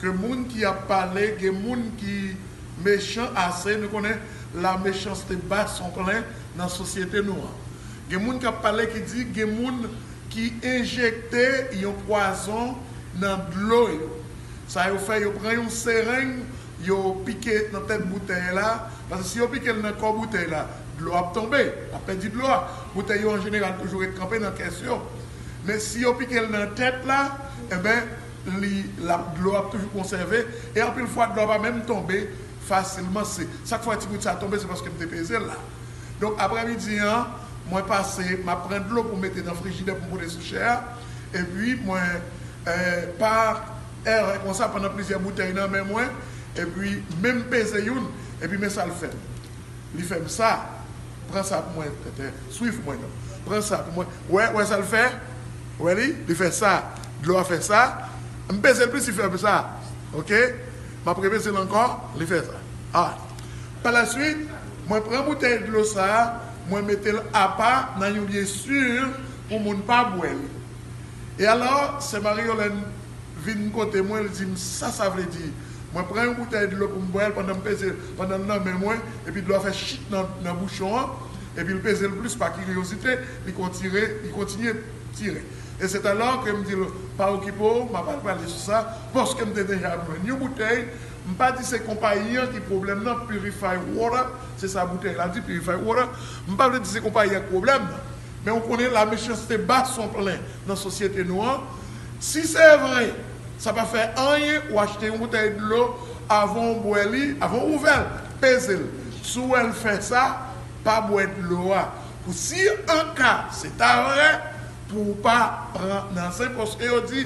Ke moun ki ap pale gen moun ki mechan ase nou konnen la mechanste bat son plen nan sosyete nou an gen moun kap pale ki di gen moun ki enjekte yon pwazon nan dlo yo sa yo fè yo pran yon sereng yo pike nan tèt boutèy la paske si yo pikel nan kò boutèy la dlo ap tonbe lap pèdi dlo a boutèy yo anjeneral toujou ret kanpe nan kès yo men si yo pikel nan tèt la enben li lap dlo ap toujou konsève e anpil fwa dlo a pa menm tonbe fasilman se sak fè ti gout sa tonbe se paske m te peze l la donk aprè midi an mwen pase map pran dlo pou m mete nan frijidè pou m pote sou chè a epi mwen pa erè konsa pandan plizyè boutèy nan men mwen epi menm peze youn epi men sa l fè m. Li fè m sa. Pran sa pou mwen. Tètè, swiv mwen non. Pran sa pou mwen. Wè, wè sa l fè? Wè li? Li fè sa. Dlo a fè sa. M peze l plis, li fè m sa. Oke. M ap repeze l ankò. Li fè sa. A. Palasuit, mwen pran boutèy dlo sa a, mwen mete l apa nan yon lye si pou moun pa bwè li. E alò, sè Marie Yolène vin kote mwen, l di m sa sa vle di. Mwen pran yon boutèy dlo pou m bwè l pandan m peze l pandan l nan men mwen, epi dlo a fè chit nan bouchon an, epi l peze l plis pa kiryozite, li kontire, li kontinye tire. E sèt alò ke m di l, Pa okipe w, m ap al pale sou sa, paske m te deja jwenn yon boutèy, m pa di se konpayi an ki pwoblèm nan, Purify Water, se sa boutèy la di, Purify Water, m pa vle di se konpayi a ki pwoblèm nan, men ou konnen la mechanste ba son plen nan sosyete nou an, si se vre. Sa pa fè anyen ou achte yon boutèy dlo avan ou bwè li, avan ou ouvè l, peze l. Si w wè l fè sa, pa bwè dlo a pou si an ka se ta vrè pou ou pa pran nan zin paske yo di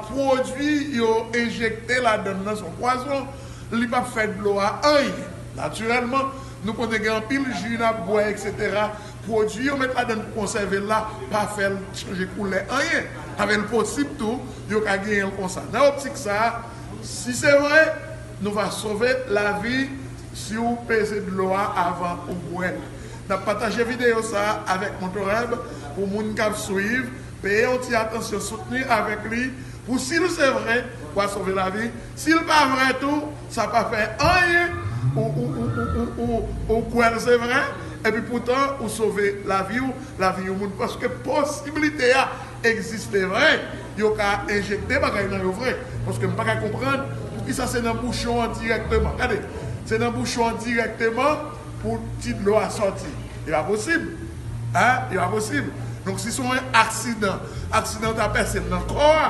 pwodui yo enjekte ladan l nan se yon pwazon, li pap fè dlo a anyen. Natirèlman, nou konnen gen anpil ji n ap bwè eksetera Pwodui yo met ladann pou konsève l la pa fè l chanje koulè anyen avè l posib tou yo ka genyen l konsa. Nan optik sa a, si se vre, nou va sove lavi si w peze dlo a avan ou bwè l. N ap pataje videyo sa a avèk Motoreb pou moun k ap swiv peye yon ti atansyon soutni avèk li pou si l se vre, wa sove lavi, si l pa vre tou, Sa pa fè anyen ou kwèl se vre epi poutan ou sove lavi ou lavi yon moun paske posibilite a egziste vre yo ka enjekte bagay nan yo vre paske m paka konprann poukisa se nan bouchon an dirèkteman gade se nan bouchon an dirèkteman pou ti dlo a sòti e pa posib a e pa posib donk si son aksidan aksidan ta pèse l nan kò a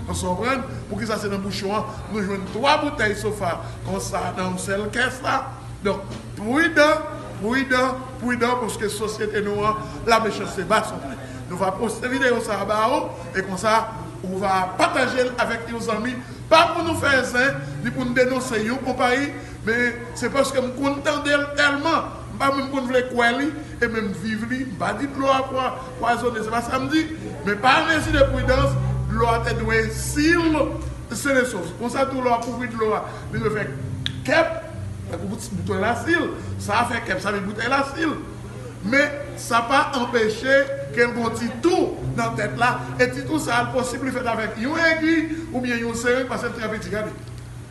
èske w konprann poukisa se nan bouchon an. Nou jwenn 3 boutèy sofa konsa nan yon sèl kès la. Donk pridan, pridan, pridan paske sosyete nou an la mechanste ba son plen. Nou va poste videyo sa ba ou e konsa ou va pataje l avèk yon zanmi pa pou nou fè zen ni pou n denonse yon konpayi men se paske m konn tande l tèlman m pa menm konn vle kwè li e menm viv li m pa di dlo a fwa pwazone se pa sa m di men pa mezi de pridans dlo a te dwe sil sele sos konsa tou lè wap ouvri dlo a li dwe fè kep tankou boutèy la sil sa fè kep sa vin boutèy la sil men sa pa anpeche kel gon ti tou nan tèt la e ti tou sa posib li fèt avèk yon egi oubyen yon sering pasel trè piti gade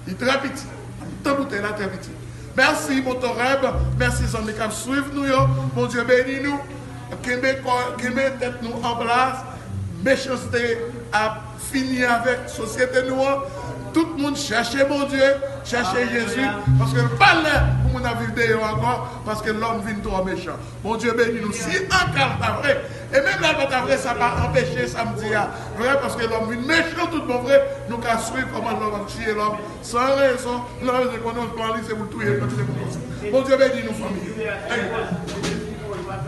li trè piti antan boutèy la trè piti mèsi motoreb mèsi zanmi kap swiv nou yo bondye beni nou. Kenbe kò kenbe tèt nou anplas mechanste ap fini avèk sosyete nou an tout moun chèche Bondye chèche Jezi paske l pa lè pou moun ap viv deyò ankò paske lòm vin twò mechan Bondye beni nou si ankal ta vre e menm lè l pa ta vre sa pa anpeche sa m di a vre paske lòm vin mechan tout bon vre nou ka swiv kòman lòm ap tiye lòm san rezon nan rezon konnen plan li se pou l touye l paske se pou l konsa Bondye beni nou fanmi.